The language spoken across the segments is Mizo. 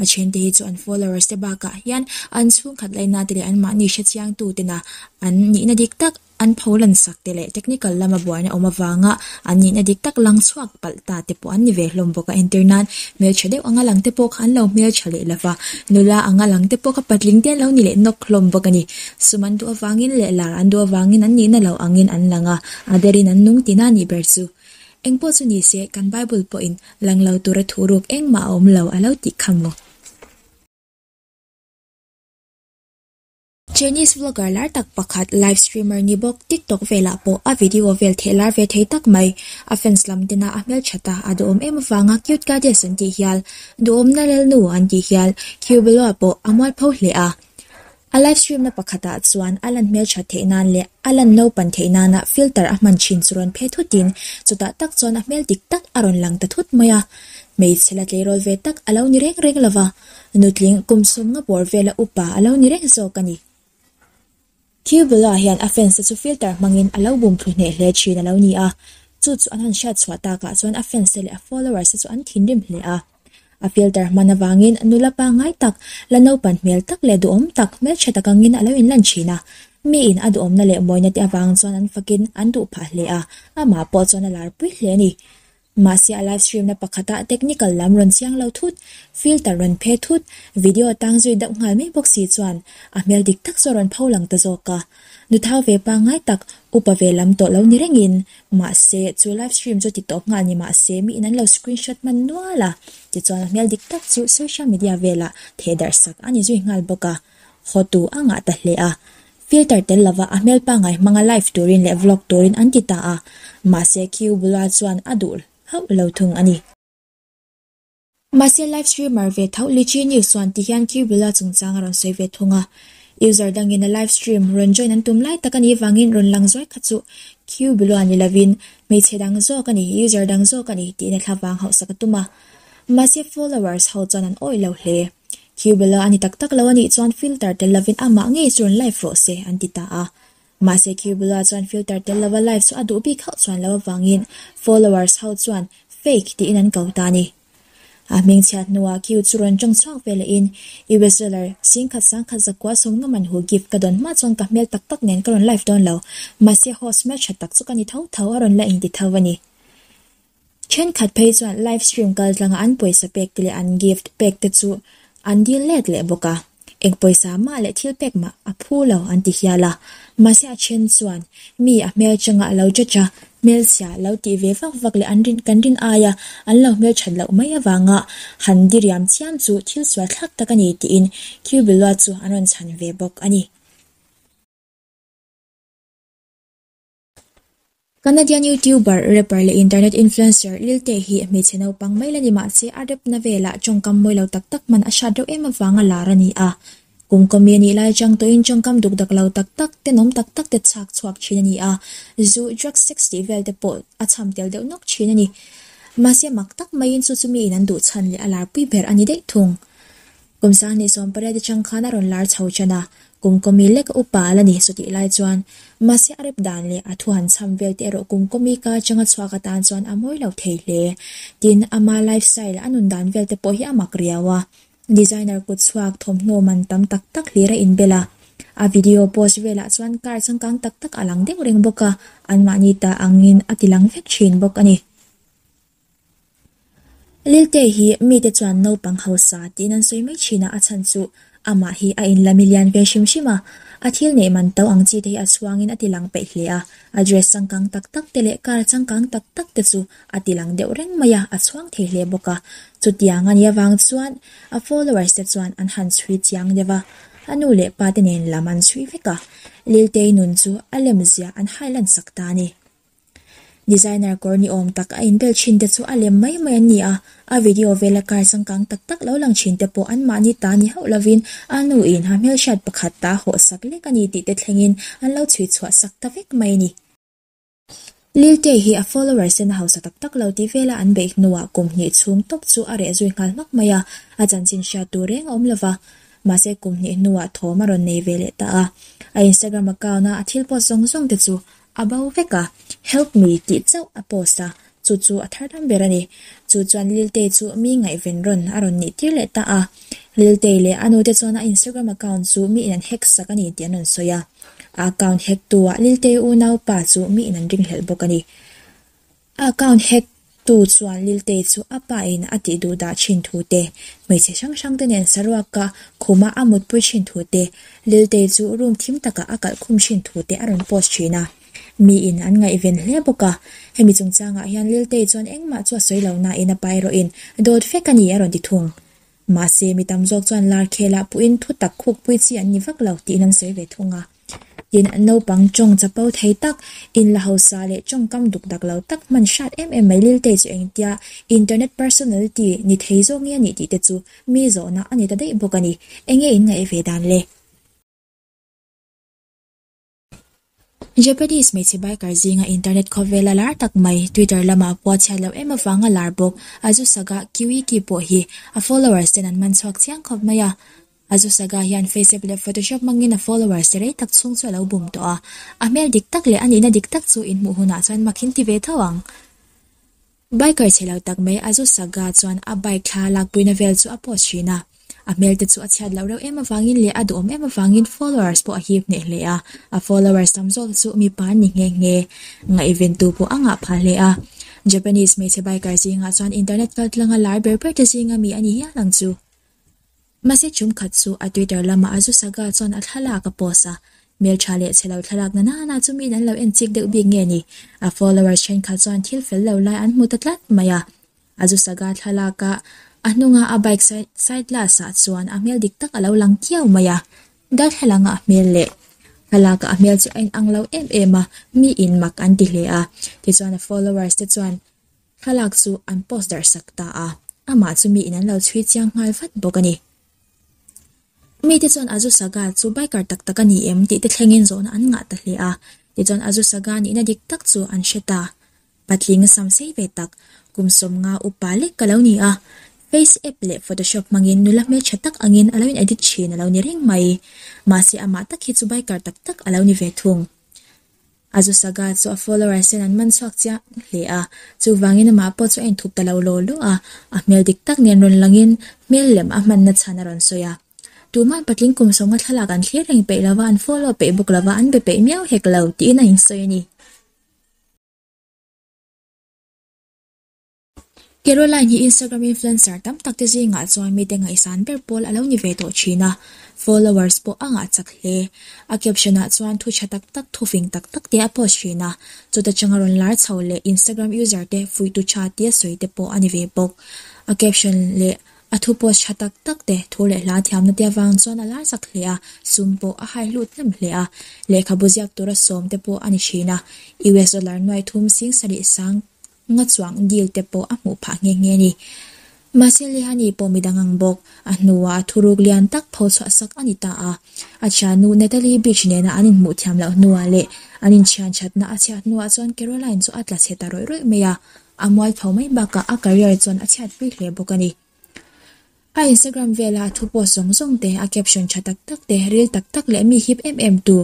A thiante hi chu an followers te bakah hian an chhungkhat laina te leh an mahni hrechiangtutena an nihna dik tak, an pho lansak te leh technical lama buaina awm avanga an nihna dik tak lang chhuak palh ta te pawh an ni ve hlawm bawk a. Entirnan hmeltha deuh a nga lang te pawh kha an lo hmeltha leh lova, nula a nga lang te pawh kha patling te an lo ni leh nawk hlawm bawk a ni. Sum an duh avangin leh lar an duh avangin an nihna lo angin an lang a, a der in an nung tina nih ber chu. Engpawh chu ni se, kan Bible pawhin lang lo tura thu ruk engmah a awm lo a lo tih kha maw? Chinese vlogger lar tak pakhat, live streamer ni bawk, TikTok velah pawh a video vel theh lar ve thei tak mai. A fans lam tena a hmeltha ta, a duhawm em avanga cute goddess an tih hial, duhawmna lelnu an tih hial, Cubeloa pawh a mualpho hle a. A live stream na pakhatah chuan a lan hmeltha theih nan leh a lan lo pan theih nana filter a hman thin chu rawn phe thutin chutah tak chuan a hmel dik tak a rawn lang ta thut mai a. Hmeichhe la tleirawl ve tak a lo ni reng reng lova, nutling kum sum nga bawr vela upa a lo ni reng zawk a ni. Thil bulah hian a fans te chu filter hmangin a lo bum thlu hneh hle thin a lo ni a, chu chu an han hriat chhuah takah chuan a fans te leh a followers te chu an thinrim hle a. A filter hman avangin a nula pangngai tak, la naupan hmel tak leh duhawm tak, hmelchhe tak angin a lo inlan thin a. Miin a duhawmna leh mawina te avang chuan an fakin an duh phah hle a, amah pawh chuan a lar pui hle a ni. Mahse, a live streamna pakhatah technical lam rawn chiang lo thut, filter rawn phe thut, video a tang zui deuh nghal mai bawk si chuan a hmel dik tak chu a rawn pho lang ta zawk a. Nu thau ve pangai tak upa ve lam tawh lo ni rengin, mahse, chu live stream chu ti tawp nghal ni mah se, mi in an lo screen shot hman nual a, tichuan a hmel dik tak chu social media velah theh darh sak a ni zui nghal bawk a, haw tu a ngah ta hle a, filter tel lova a hmel pangai hmanga live turin leh vlog turin an ti ta a, mahse, Q bula chuan a duh hauh lo thung a ni. Mahse live streamer ve tho Li Chi Ni suan ti hian Q Bula chungchang a rawn sawi ve thung a, user dangin a live stream rawn join an tum lai tak a nih vangin rawn lang zuai kha chu Q Bula ni lovin hmeichhe dang zawk a ni, user dang zawk a ni tiin a thla vang hauh sak a tum a. Mahse followers ho chuan an awih lo hle. Q Bula a ni tak tak lo a nih chuan filter tel lovin amah ngei chu rawn live rawh se an ti ta a. Mahse khi bula chuan filter tel lova live chu a duh bik hauh chuan lo avangin followers ho chuan fake tiin an ko ta a ni. A hming chhiat hnuah khi chu rawn tang chhuak ve lohin US dollar sing khat sang khat zakua a sawmnga man hu gift ka don hma chuan ka hmel tak tak nen ka rawn live dawn lo. Mahse host hmeltha tak chu ka ni tho tho a rawn la inti tho a ni. Thenkhat phei chuan live stream kal tlanga an pawisa pek te leh an gift pek te chu an dil let leh bawk a, eng pawisa mah leh thil pek mah a phu lo an ti hial a, mahse a then chuan mi a hmel changa a lo judge a, hmelchhia lo tih ve vak vak leh an rin kan rin ai a an lo hmel that loh mai avanga han diriam chiam chu thil sual thlak tak a ni tiin Cubilua chu an rawn chhan ve bawk a ni. Canadian YouTuber, rapper leh internet influencer Lil Tay hi hmeichhe naupang mai la ni mahse a rap-na vela tawngkam mawi lo tak tak hman a hriat reuh em avanga lar a ni a. Kum kawmi a nih lai chang tawhin tawngkam duk dak lo tak tak te nawm tak tak te chhak chhuak thin a ni a, zu, drugs, sex tih vel te pawh a cham tel deuh nawk thin a ni. Mahse mak tak maiin chu chu miin an duh chhan leh a lar pui ber a ni daih thung. Kum sang ni sawm pariat te chang khan a rawn lar chho chan a, kum kawmi lek a upa a la ni saw tih lai chuan. Mahse a rep dan leh a thu han chham vel te erawh kum kawmi ka changa chhuak atan chuan a mawi lo thei hle. Tin, ama life style a nun dan vel te pawh hi a mak riau a. Designer kut chhuak thawmhnaw man tam tak tak hlir a inbel a. A video post velah chuan car changkang tak tak a lang deuh reng bawk a, anmahni ta angin a tilang vek thin bawk a ni. Lilte hi mite chuan naupang hausa tiin an sawi mai thin a, a chhan chu amah hi a in la mi lian ve hrim hrim a, a thil neih man to ang chi te hi a chhuangin a ti lang peih hle a, address changkang tak tak te leh car changkang tak tak te chu a ti lang deuh reng mai a, a chhuang thei hle bawk a, chutiang a nia vang chuan a followers te chuan an han chhui chiang deuh a, a nu leh pa te nen lam an chhui vek a, Liltei nun chu a lem zia an hai lan sak ta a ni. Designer kawr ni awm tak a inbel thin te chu a lem mai mai an ni a, a video vela kar changkang tak tak lo lang thin te pawh anmahni ta ni hauh lovin a nu in ha hmel hriat pakhat ta haw sak lek a ni tih te thlengin an lo chhui chhuah sak ta vek mai a ni. Lil Tay hi a followers in a hausa tak tak lo tih vela an beih hnu ah kum hnih chhung tawp chu a reh zui nghal hmak mai a, a chanchin hriat tur reng a awm lova, mahse kum hnih hnu ah thawm a rawn nei ve leh ta a. A Instagram account a a thil post zawng zawng te chu A bo vek a, Help me tih chauh a post a, chu chu a thar dam ber a ni. Chu chuan Liltei chu mi ngaihven rawn a rawn nih tir leh ta a. Liltei leh a nute chuan a Instagram account chu mi in an hack sak a ni tih an rawn sawi a. A account hack tu ah Liltei unau pa chu mi in an ringhlelh bawk a ni. Account hack tu chuan Liltei chu a pa in a tih duh dah thin thu te, hmeichhe hrang hrang te nen saruak ka khum a a mutpui thin thu te, Liltei chu room thim tak ah a kalh khum thin thu te a rawn post thin a, mi in an ngaihven hle bawk a. Hemi chung chang ah hian Liltei chuan engmah chu a sawi lo na in a pa erawh in dawt fek a ni a rawn ti thung. Mahse mi tam zawk chuan Larkhel ah pu in thutak khukpui chi an ni vak lo tih in an sawi ve thung a. Tin, naupang chawng chapau thei tak, in la hausa leh chawngkam dukdak lo tak hman hrat em em mai Liltei chu engtia internet personality ni thei zawk nge a nih tih te chu mi zawhna a ni ta daih bawk a ni. Enge in ngaih ve dan le? Japanese hmeichhe biker zinga internet khawvela lar tak mai Twitter lamah pawh a chhiat loh em avang a lar bawk, a zu sagah QEQ pawh hi a followers ten an hman chhuak chiang khawp mai a, A zu saga hian Faceapp leh Photoshop hmangin a follower se rei tak chhung chu a lo bum tawh a. A hmel dik tak leh a nihna dik tak chu in hmuh hunah chuan makhin ti ve tho ang. Biker che lo tak mai a zu saga chuan a bike thla lakpuina vel chu a post thin a. A hmelte chu a chhiat loh reuh em avangin leh a duhawm em avangin followers pawh a hip hneh hle a. A followers tam zawk chu mipa an ni nghe nghe. Ngaihventu pawh a ngah phah hle a. Japanese hmeichhe biker zingah chuan internet kaltlanga lar ber ber te zinga mi a ni hial ang chu. Mahse chum khat chu a Twitter lamah a zu saga chuan a thlalak a post a, Hmeltha leh chhe lo thlalak na na na chu min an lo en chik deuh bik nge ni? A followers thenkhat chuan thil fel lo lai an hmu ta tlat mai a. A zu saga thlalaka a hnunga a bike side glass ah chuan a hmel dik tak a lo lang kiau mai a. Darthlalang a hmel leh thlalak a a hmel chu a in ang lo em em a, mi in mak an ti hle a. Tichuan a followers te chuan Kha lak chu an post darhsak ta a, amah chu miin an lo chhui chiang nghal vat bawk a ni. Mite chuan Azu Saga chu biker tak tak a ni em tih te thlengin zawhna an ngah ta hle a, tichuan Azu Saga nihna dik tak chu an hre ta. Patling sam sei ve tak, kum sawm nga upa lek ka lo ni a, face app leh photoshop hmangin nula hmeltha tak angin a lo in edit thin a lo ni reng mai. Mahse amah tak hi chu biker tak tak a lo ni ve thung. A zu saka chu a followers hian an man chhuak chiang hle a, chuvangin amah pawh chu a inthup ta lo law law a, a hmel dik tak nen rawn langin hmel lem a hmanna chhan a rawn sawi a. Tuman patling kum sawnga thlalak an thlir reng peih lova, an follow peih bawk lova, an be peih miau hek lo tiin a insawi a ni. Caroline hi Instagram influencer tam tak te zingah chuan mite ngaihsan ber pawl a lo ni ve tawh thin a, followers pawh a ngahchak hle. A caption ah chuan thu tha tak tak, thu fing tak tak te a post thin a, chuta changa rawn lar chho leh Instagram user te fuihtu tha tia sawi te pawh a ni ve bawk. A caption leh a thu post tha tak tak te thu leh hla thiamna te avang chuan a lar chak hle a, sum pawh a hai hlut hlem hle a, lehkhabu ziak tura sawm te pawh a ni thin a, US dollar nuai thum sing sarih sang Nga chuang deal te pawh a hmuh phah nghe nghe a ni. Mahse Lehani pawh mi dang ang bawk. A hnuah a thuruk lian tak pho chhuah sak a ni ta a. A thiannu Natalie Beach nena an inhmuh thiam loh hnuah leh an inthianthatna a chhiat hnuah chuan Caroline chu a tlachhe ta rawih rawih mai a. A mual tho mai bakah a career chuan a chhiatpui hle bawk a ni. A Instagram velah thu post zawng zawng te, a caption tha tak tak te, reel tak tak leh mi hip em em tu,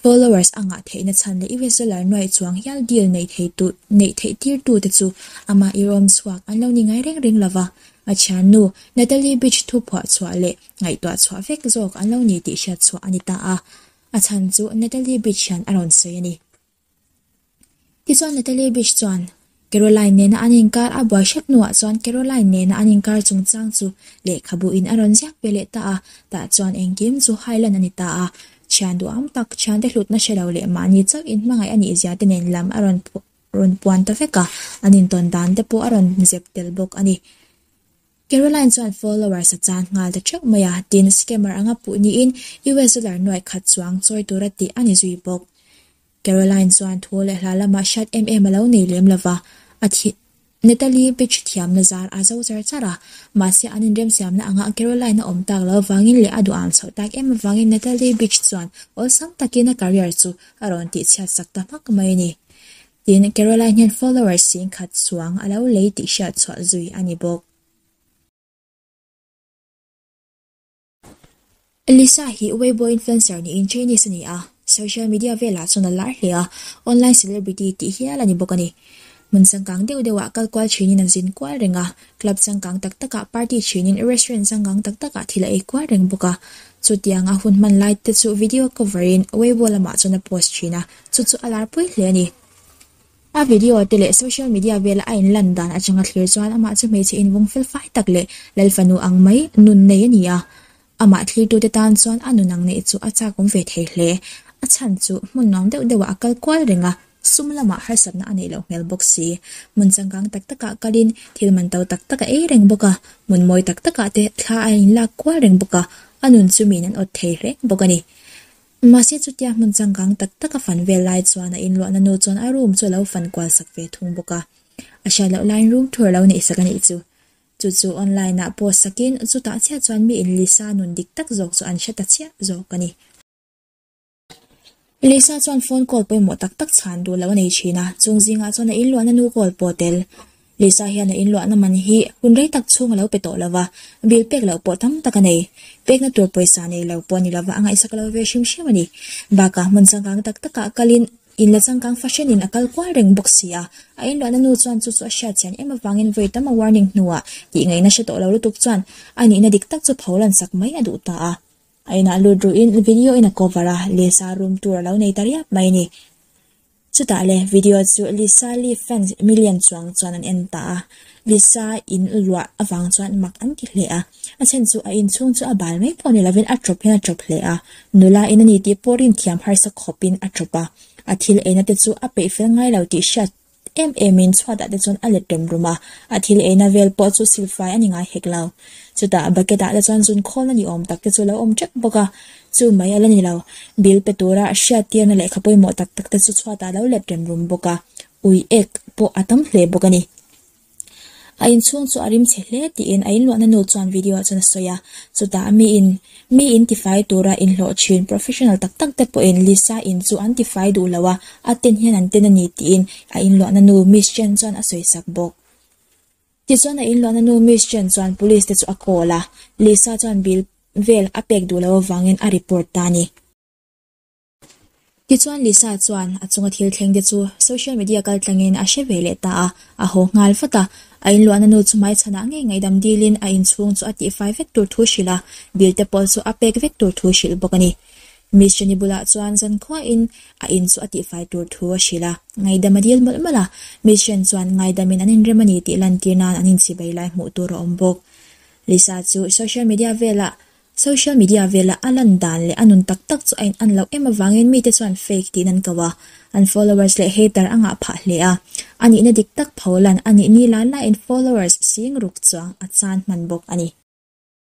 followers a ngah theihna chhan leh i reseller nuaih chuang hial deal neih thei tu neih theih tir tu te chu amah i rawm chhuak an lo ni ngai reng reng lo va. A thiannu Natalie Beach thu phuah chhuah leh ngaihtuah chhuah vek zawk an lo ni tih hriat chhuah a ni ta a, a chhan chu Natalie Beach hian a rawn sawi a ni. Tichuan Natalie Bish chuan Caroline nena an inkar a, buaihre hnuah chuan Caroline nena an inkar chungchang chu lehkhabuhin a rawn ziak ve leh ta a, tah chuan engkim chu hailan a ni ta a, thian duham tak, thiante hlutna hre lo leh mahni chauh in hmangaih a nihzia te nen lam a rawn puan ta vek a, an intawn dan te pawh a rawn zep tel bawk a ni. Caroline chuan followers a chan nghal ta teuh mai a, tin, scammer anga puh niin US dollar nuaih khat chuang chawi tur a tih a ni zui bawk. Caroline chuan thu leh hla lamah hriat em em a lo nei lem lo va, a thi. Natalie Beach thiamna zar a zo char char a, mahse an inremsiamna angah Caroline a awm tak lo avangin leh a duham chhoh tak em avangin Natalie Beach chuan awlsam takin a career chu a rawn tihchhiat sak ta hmak mai a ni. Tin, Caroline hian followers si'n khat suang a lo lei tih hriat chhuah zui a ni bawk. Lisa hi Weibo influencer niin Chinese a ni a, social media velah chuan a lar hle a, online celebrity tih hial a ni bawk a ni. Hmun changkang deuh deuhah kal kual thinin an zin kual reng a, club changkang tak takah party thinin restaurant changkang tak takah thil a ei kual reng bawk a. Chutianga hun hman lai te chu video cover-in Weibo lamah chuan a post thin a, Chu chu a lar pui hle a ni. A video te leh social media vela a inlan dan atanga thlir chuan amah chu hmeichhe invawng felfai tak leh lal fanu ang mai nun nei a ni a. Amah thlirtute tan chuan a nun ang neih chu a chakawm ve thei hle. A chhan chu hmun nuam deuh deuhah a kal kual reng a. Sum lamah harsatna a neih loh hmel bawk si. Hmun changkang tak takah kalin thil man to tak tak a ei reng bawk a. Hmun mawi tak takah te thla a inlak kual reng bawk a. A nun chu miin an awt thei reng bawk a ni. Mahse chutia hmun changkang tak tak a fan vel lai chuan a inluahna nu chuan a room chu a lo fan kual sak ve thung bawk a. A hriat loh laiin room thu a lo neih sak a nih chu. Chu chu online ah post sakin chutah chiah chuan mi in Lisa nun dik tak zawk chu an hre ta chiah zawk a ni. Lisa chuan phone call pawimawh tak tak chhan duh lo a nei thin a, chung zingah chuan a inluahna nu call pawh a tel. Lisa hian a in luahna man hi hun rei tak chhung a lo pe tawh lo va, bil pek loh pawh tam tak a nei. Pekna tur pawisa nei lo pawh a ni lo va, a ngaihsak lo ve hrim hrim a ni. Bakah hmun changkang tak takah kalin in la changkang fahrenin a kal kual reng bawk sia, a in luahna nu chuan chu chu a hriat chian em avangin vawi tam a warning hnuah tih ngaih na hre tawh lo lutuk chuan a nihna dik tak chu pho lansak mai a duh ta a. A inah lut ruhin video in a cover a, Lisa room tur a lo nei ta riap mai a ni. Chutah le, video chu Lisa Lee fans million chuang chuan an en ta a, Lisa in luah avang chuan mak an ti hle a, a chhen chu a inchhung chu a bal mai pawh ni lovin a tawp hian a tawp hle a, nula in a ni tih pawh rimthiam harsa khawpin a tawp a, a thil eina te chu a peih fel ngai lo tih hriat em emin chhuatah te chuan a let rum rum a, a thil eina vel pawh chu silfai a ni ngai hek lo. Chutah bucket ah te chuan zun khawlna ni awm tak te chu a lo awm tep bawk a, Chu mai a la ni lo. Bil pe tura a hriat tirna lehkha pawimawh tak tak te chu chhuat ah lo let rem rum bawk a, ui ek pawh a tam hle bawk a ni. A inchhung chu a rim chhe hle tiin a inluahna nu chuan video ah chuan a sawi a, chutah a mi in mi in tifai tura inhlawh thin professional tak tak te pawh in Lisa in chu an tifai duh lo a, a ten hian an ten a ni tiin a inluahna nu Miss Chen chuan a sawi sak bawk. Tichuan a inluakna nu Miss Chen chuan police te chu a call a, Lisa chuan bil vel a pek duh loh avangin a report ta a ni. Tichuan Lisa chuan a chunga thil thleng te chu social media kal tlangin a hre ve leh ta a, a haw nghal vat a. A inluakna nu chu hmaichhanah ngei ngaihdam dilin a inchhung chu a tihfai vek tur thu hrilh a, bil te pawh chu a pek vek tur thu hrilh bawk a ni. Miss Jenny bulah chuan zan khuain a in chu a tihfai tur thu a hrilh a, ngaidam a dil mawlh mawlh a, Miss Jen chuan ngaidamin an inrem a ni tih lantir nan an inchibei lai hmuh tur a awm bawk. Lisa chu social media velah Social media velah a lan dan leh a nun tak tak chu a in an loh em avangin mite chuan fake tih in an ko a, an followers leh hater a ngah phah hle a, a nihna dik tak pho lan a nihni lailaiin followers sing ruk chuang a chan hman bawk a ni.